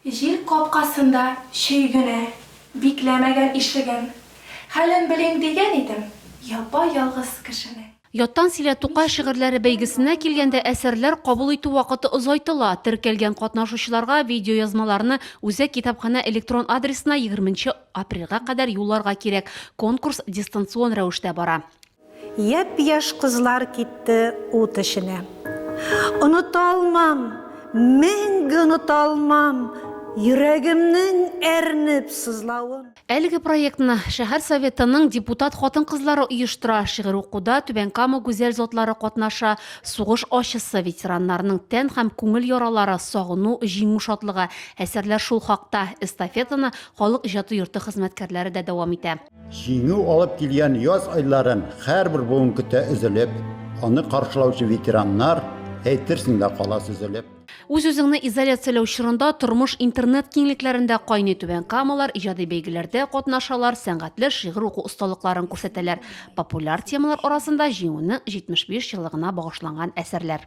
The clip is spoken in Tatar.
Җир капкасында чөй генә, бикләмәгән ишеген. Хәлен белим дигән идем, япа-ялгыз кешенең. Яттан сөйлә Тукай шигырьләре бәйгесенә килгәндә, әсәрләр кабул итү вакыты озайтыла. Теркәлгән катнашучыларга видеоязмаларны Үзәк китапханә электрон адресына егерменче апрельгә кадәр юлларга кирәк, конкурс дистанцион рәвештә бара. Япь-яшь кызлар китте ут эченә. Оныта алмам, мәңге оныта алмам Йөрәгемнең әрнеп сызлавын. Әлеге проектны шәһәр Советының депутат хатын-кызлары оештыра, шигырь укуда Түбән Кама гүзәл затлары катнаша, сугыш ачысы, ветераннарның тән һәм күңел яралары, сагыну, җиңү шатлыгы, әсәрләр шул хакта. Эстафетаны Халык иҗаты йорты хезмәткәрләре дә дәвам итә. Җиңү алып килгән яз айларын һәрбер буын көтә өзелеп, аны каршылаучы ветераннар, әйтерсең лә кала сөзелеп. Үз-үзеңне изоляцияләү чорында тормыш интернет киңлекләрендә кайный Түбән Камалар иҗади бәйгеләрдә катнашалар, сәнгатьле шигырь уку осталыкларын күрсәтәләр, популяр темалар арасында Җиңүнең 75 еллыгына багышланган әсәрләр.